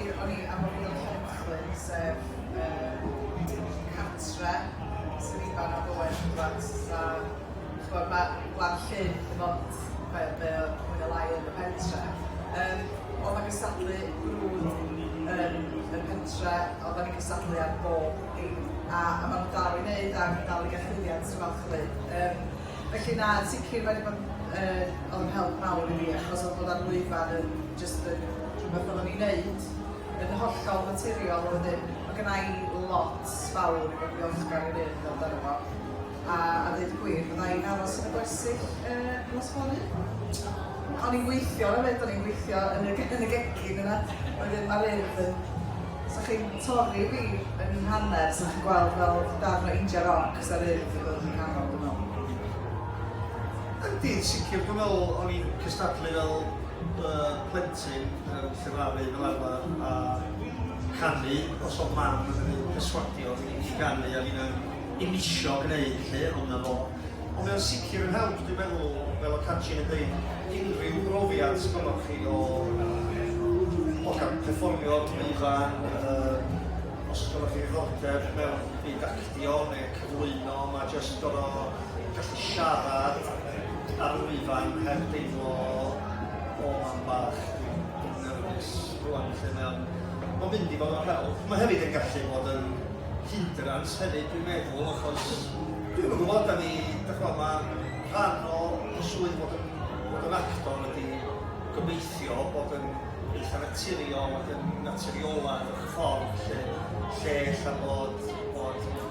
Ie o'n i am ofyn am Hopcyn sef yy Cwmni Cartre sydd i fana efo West Midlands a ch'mod ma' Gwlad Llŷn dim ond be' be' o mwy ne' lai yn y pentre yym on' ma' cystadlu brwd yn y pentre on' 'dan ni'n cystadlu ar bob dim a a ma' nw dal i neud a fi'n dal i ga'l llwyddiant sy'n falch o ddeud yym felly na yn sicir ma' 'di bod yn yy o'dd yn help mawr i fi achos o'dd bod ar lwyfan yn Jyst yn rhywbeth oddwn i'n neud yn hollol naturiol a wedyn ma' gynna i lot fawr i fod yn ddiolchgar i Rhydd amdano fo a a deud y gwir fydda i'n aros yn y gwersyll yy nos fory. O'n i'n gweithio efyd o'n i'n gweithio yn y yn y gegin yna wedyn ma' Rhydd yn sa chi'n torri fi yn hanner sa chi'n gweld fel darn o injan roc sa Rhydd yn dod yn nghanol dwi me'wl. Yndi yn sicir dwi me'wl o'n i'n cystadlu fel Mae plentyn yn llefaru fel arfer a chanu, os o'dd mam yn ei perswadio i i ganu a finna'n i'm isio gneud 'lly, ond 'na fo. Ond mae o'n sicr yn help dwi'n meddwl, fel o' Catrin yn deud, unrhyw brofiad sgynnoch chi o o ga'l perfformio dipyn ifanc, yym os gynnoch chi ddiddordeb mewn byd actio neu cyflwyno, ma' jyst gor'o' gallu siarad, Ar ôl i fy nghar deimlo o mam bach, dwi'n dwi'n nyrfys rŵan felly mae o'n mae o'n mynd i fo' mor hawdd. Mae hefyd yn gallu bod yn hinderance hefyd dwi'n meddwl achos dwi'm yn gwbod 'dan ni dych'mo' ma' rhan o o swydd fod yn fod yn actor ydi gobeithio bod yn eitha' naturiol ac yn naturiolaidd mewn ffordd lle lle ella bod bod